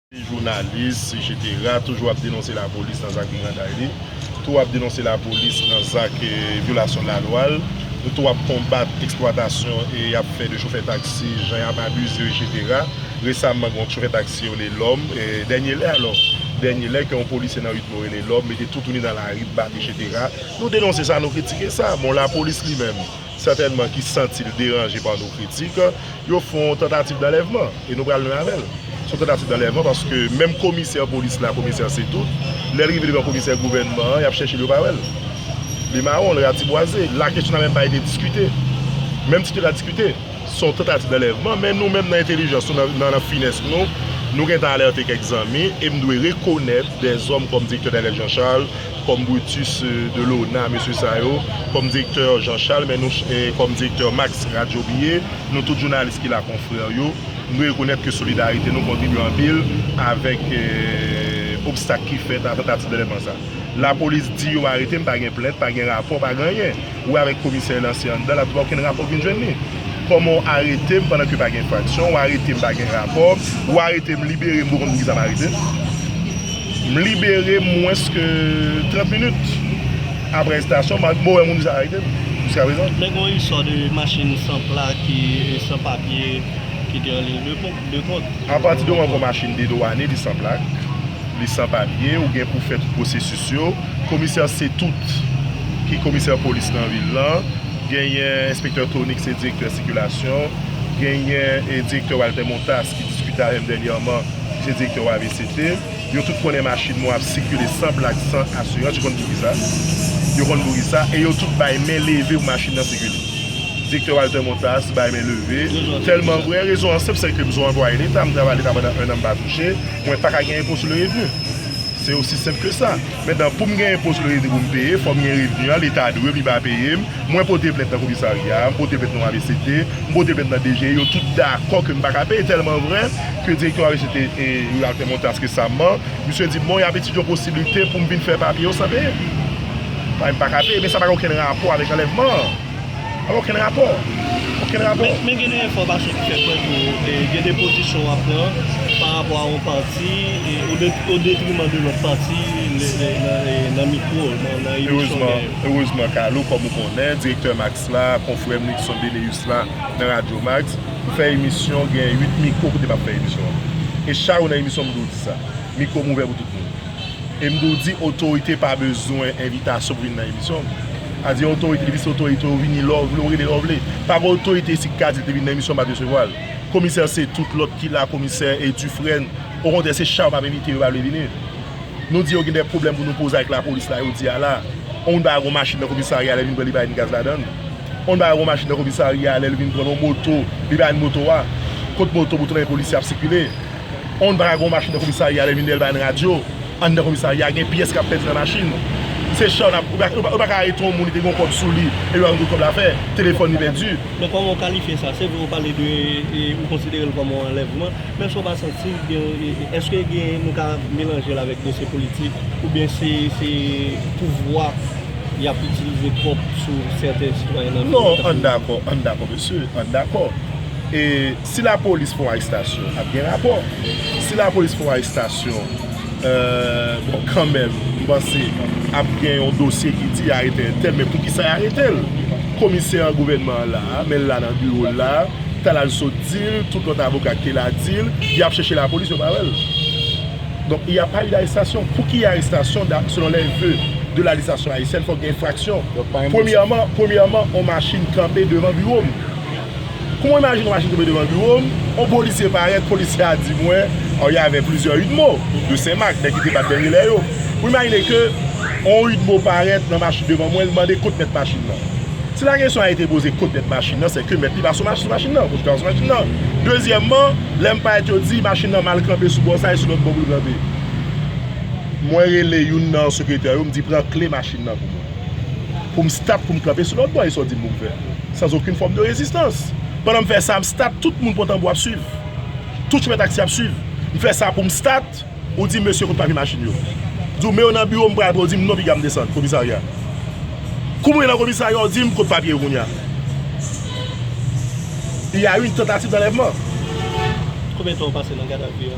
Li jounalis, etsetera, toujou ap denonse lapolis nan zak briganday li, tou ap denonse lapolis nan zak vyolasyon lalwa l, tou ap konbat eksplwatasyon y ap fè de chofè taksi, jan y ap abize yo, etsetera. Resaman gen yon chofè taksi yo rele Lòm, dènye lè alò, dènye lè ke yon polisye nan Widmore rele Lòm, mete toutouni nan lari, bat, etsetera. Nou denonse sa, nou kritike sa. Bon, lapolis li menm? sètènman ki santi l deranje pa nos critiques, yo fè yon tantativ danlèvman, e nou pral lwen avè l. Se yon tantativ danlèvman paske menm komisè polis la, komisè Cetout, lè l rive devan komisè gouvènman an, y ap chèche l yo pa wè l. Li mawon, li ratibwaze. La kesyon nan menm pa ete diskite. Menm si te ta diskite, se yon tantativ danlèvman, men nou menm nan entelijans nou, nan finès nou, nou gentan alète kèk zanmi, e m dwe rekonèt dè zòm kòm Direktè Daniel Jean Charles, Kòm Brutus de Lona mesye sa yo, kòm direktè Jean Charles men nou kòm direktè Max Radyo Bye, nou tout jounalis ki la konfrè yo, nou dwe rekonèt ke solidarite nou kontribye anpil avèk obstak ki fèt a tantativ d'anlèvman sa. Lapolis di yo arete m, pa gen plent, pa gen rapò, pa gen anyen. Ou avèk komisè lan se anndan lap di w okenn rapò vin jwenn li. Kòman w arete m pandan ke pa gen enfraksyon, w arete m pa gen rapò, w arete m libere m m poko konn poukisa m arete l. M libere mwens ke 30 minit apre arestasyon m, m poko wè moun ki sa arete m jiska prezan. Men gen yon istwa de machin san plak ki san papye ki te anliy de kont, de kont. Apati de moman ke yon machin dedwane li san plak, li san papye, ou gen pou fè tout pwosesis yo. Komisè Cetoute ki komisè polis nan vil lan, genyen enspektè Tony ki se direktè sikilasyon, genyen direktè Walter Montas ki diskite avè m dènyèman ki se direktè OAVCT. Yo tout konnen machin mwen ap sikile san plak, san asirans, yo konn poukisa sa, yo konn poukisa sa e yo tout bay men leve pou machin nan sikile. Direktè Walter Montas bay men leve, tèlman vrè, rezon an senp sèke m son anplwaye leta, m travay leta pandan 1 an m pa touche, mwen pa ka gen enpo sou le revni. Se osi senp ke sa. Mentnan poum genyen pos loyete poum peye, fòm gen revni an, leta dwem, li pa peyem, mwen pote plent nan komisarya a, m pote plent nan avct, m pote plent nan DGI, yo tout dakò kem paka peye, tèlman vrè ke direktè avct rural fèm yon task resamman, misye dim bon yap etidye yon posiblite poum vin fè papye yo san peyem. Paske m paka peye, men sa pa gen okenn rapò avèk anlèvman an. Okenn rapò. Okenn rapò. Men gen de enfòmasyon ki fè kwè tou gen de pozisyon w ap pran pa rapò a yon pati o detriman de lòt pati nan mikwo, nan emisyon dèyè yo. Erezman Kalo, kòm ou konnen, direktè Max la, konfrè m Nixon Beneus la nan Radyo Max, pou fè emisyon gen 8 mikwo kote m ap fè emisyon an. E chak jou nan emisyon m toujou di sa. Mikwo m ouvè pou tout moun. E m tou di otorite pa bezwen envitasyon pou vin nan emisyon m. Pa di otorite, depi se otorite ou vini lè ou vle, ou rele lè ou vle. Pa gen otorite isit ki ka di l te vin nan emisyon m pa t resevwa l. Komisè se tout lòt ki la, komisè e Dufresne. Okontrè se Charles m ap envite yo pa vle vini. Nou di yo gen de pwoblèm pou nou poze avèk lapolis la yo di a la. On moun pa ka gen yon machin nan komisarya a lè l vin pran li pa gen gaz ladan l. On moun pa ka gen yon machin nan komisarya a lè l vin pran yon moto li pa gen moto a. Kot moto pou tout lè gen polisye ap sikile. On bagay gon machin nan komisarya lè vin lèl bay n radyo anndan komisarya gen pyès kap pèdi nan machin se chan nap yo paka arete on moun li te gon kòb sou li epi yo pa konn kot kòb la fè telefòn li pèdi. Men kòman ou kalifye sa? Se vre ou pale de ou konsidere l kòm on anlèvman men èske ou pa santi gen èske gen nou ka melanje l avèk dosye politik oubyen se se pouvwa yap itilize twòp sou sèten sitwayen nan peyi an? Non ann dakò ann dakò mesye ann dakò e. Si la polis fè yon arestasyon ap gen rapò. Si la polis fè yon arestasyon bon kanmenm m panse ap gen yon dosye ki di arete entèl men poukisa y arete l. Komisè an gouvènman an la a men l la nan biwo l la a Talal sot di l tout lòt avoka ki te la di l y ap chèche la polis yo pa wè l. Donk y a pa eu d'arestasyon. Pou ki arestasyon selon lè veu de la lejislasion ayisyèn fòk gen enfraksyon. Premyèman yon machin kanpe devan biwo m. Kou mwen imajine machin tonbe devan biwo m, yon polisye parèt, polisye a di mwen, Oh, il y avait plusieurs udmo de Senmak, nèg ki te bat dènye lè yo. Ou imajine ke yon udmo parèt nan machin devan mwen, li mande kot mèt machin nan. Si la kesyon a ete poze kot mèt machin nan, se ke mèt li pa sou machin nan, kondikte a pa sou machin nan. Dezyèmman, lè m parèt yo di machin nan mal kanpe sou bò sa e sou lòt bò pou l kanpe. Mwen rele youn nan sekretè yo, m di pran kle machin nan pou mwen. Pou m start, pou m kanpe sou lòt bò, e sa w di m pou m fè? sans okenn fòm de rezistans. Pandan m fè sa, m stat, tout moun pran tanbou ap swiv. Tout chofè taksi ap swiv. M fè sa pou m stat, ou di m mesye kote papye machin yo? M di w men yo nan biwo m pral pran yo di m non piga m desann komisarya. Kou m rive nan komisarya ou di m kote papye yo kounye a? Il y a une tentative d'enlèvement. Konbyen tan ou pase nan gadavi a?